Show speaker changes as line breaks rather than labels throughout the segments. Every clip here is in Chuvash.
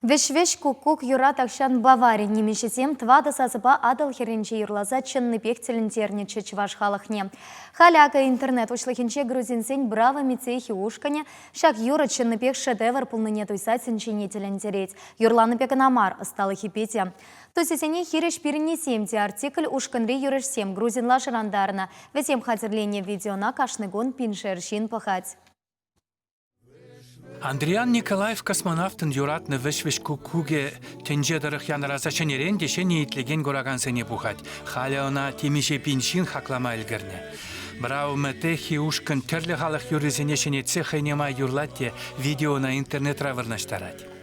Вӗҫ-вӗҫ куккук юра тахҫан Бавари нимӗҫӗсем тӑватӑ сасӑпа Атӑл хӗрринче юрласа чӑннипех тӗлӗнтернӗччӗ чӑваш халӑхне. Халӗ акӑ интернет уҫлӑхӗнче грузинсен Браво Мицехи ушкӑнӗ ҫак юрӑ чӑннипех шедевр пулнине туйса тӗнчене тӗлӗнтерет. Юрланипе кӑна мар, ӑсталӑхӗпе те. Тусӗсене хирӗҫ пирӗннисем те артикль ушкӑнри юрӑҫсем грузинла шӑрантарнӑ. Вӗсем хатӗрленӗ видеона кашни кун пиншер ҫын пӑхать.
Андриян Николаев космонавтӑн юратнӑ вӗҫ-вӗҫ куккукӗ тӗнче тӑрӑх янӑраса ҫӗнӗрен те ҫӗнӗ итлекен куракансене пухать. Халӗ ӑна темиҫе пин ҫын хаклама ӗлкӗрнӗ. Браумэ Техи ушкӑн тӗрлӗ халӑх юррисене ҫӗнетсе хӑйне май юрлать те видеона интернетра вырнаҫтарать.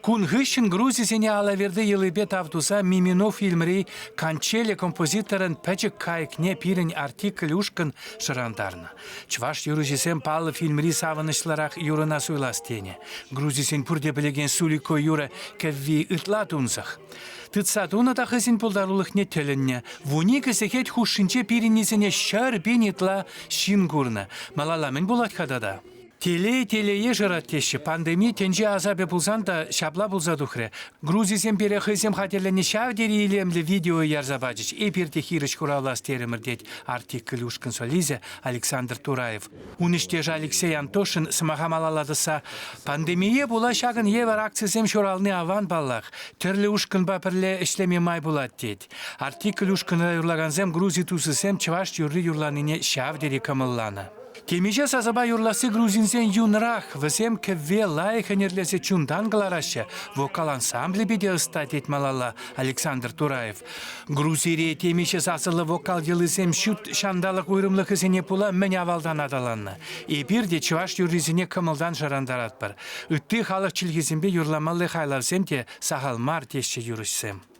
Кун хыҫҫӑн Грузисене Алаверди йӑлипе тав туса Миминов фильмри Кончели композиторӑн пӗчӗк кайӑкне пирӗн артикль ушкӑн шӑрантарнӑ. Чӑваш юрӑҫисем паллӑ фильмри савӑнӑҫлӑрах юрӑна суйлас тенӗ. Грузисен пурте пӗлекен Сулико юрӑ кӗвви ытла тунсӑх. Тытса тунӑ та хӑйсен пултарулӑхне тӗлӗннӗ. Вун икӗ сехет хушшинче пирӗннисене ҫӗр пин ытла ҫын курнӑ. Малалла мӗн пулать-ха тата? Телей телее шырать теҫҫӗ. Пандеми тӗнче асапӗ пулсан та ҫапла пулса тухрӗ. Грузисем пире хӑйсем хатӗрленӗ ҫав тери илемлӗ видео ярса пачӗҫ. Эпир те хирӗҫ хуравлас терӗмӗр, тет артикль ушкӑн солисӗ Александр Тураев. Ун ӗҫтешӗ Алексей Антошин сӑмаха малалла тӑсса пандемие пула ҫакӑн евӗр акцисем ҫурални аван паллах. Тӗрлӗ ушкӑнпа пӗрле ӗҫлеме май пулать тет. Артикль ушкӑнра юрлакансем грузи тусӗсем чӑваш юрри юрланине ҫав тери кӑмӑлланӑ. Темиҫе сасӑпа юрласси грузинсен юнрах. Вӗсем кӗвве лайӑх ӗнерлесе чунтан кӑлараҫҫӗ. Вокал ансамблӗ питӗ ӑста, тет малалла Александр Тураев. Грузире темиҫе сасӑллӑ вокал йӑлисем ҫут ҫанталӑк уйрӑмлӑхӗсене пула мӗн авалтан аталаннӑ. Эпир те чӑваш юррисене кӑмӑлтан шӑрантаратпӑр. Ытти халӑх чӗлхисемпе юрламалли хайлавсем те сахал мар, теҫҫӗ юрӑҫсем.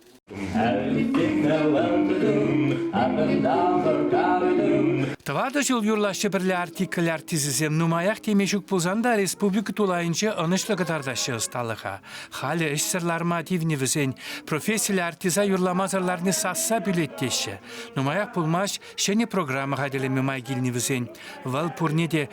Тӑватӑ ҫул юрлаҫҫӗ пӗрле артикль артисӗсем. Нумаях теме ҫук пулсан та республика тулайӗнче ӑнӑҫлӑ кӑтартаҫҫӗ ӑсталӑха. Халӗ ӗҫсӗр ларма тивнӗ вӗсен. Профессиллӗ артиса юрламасӑр ларни сасса пӳлет теҫҫӗ. Нумаях пулмасть ҫӗнӗ программа хатӗрлеме май килнӗ вӗсен. Вӑл пурне те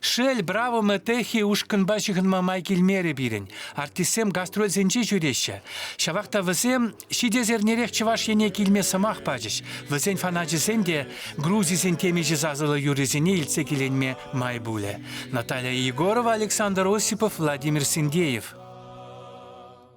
Шел,
Браво мы Техи ушкӑнпа ҫыхӑнма май килмерӗ пирӗн. Артистсем гастрольсенче ҫӳреҫҫӗ. Ҫавах та вӗсем ҫитес эрнерех Чӑваш Ене килме сӑмах пачӗҫ. Вӗсен фаначӗсем те Грузисен темиҫе сасӑллӑ юррисене илтсе киленме май пулӗ. Наталья Егорова, Александр Осипов, Владимир Синдеев.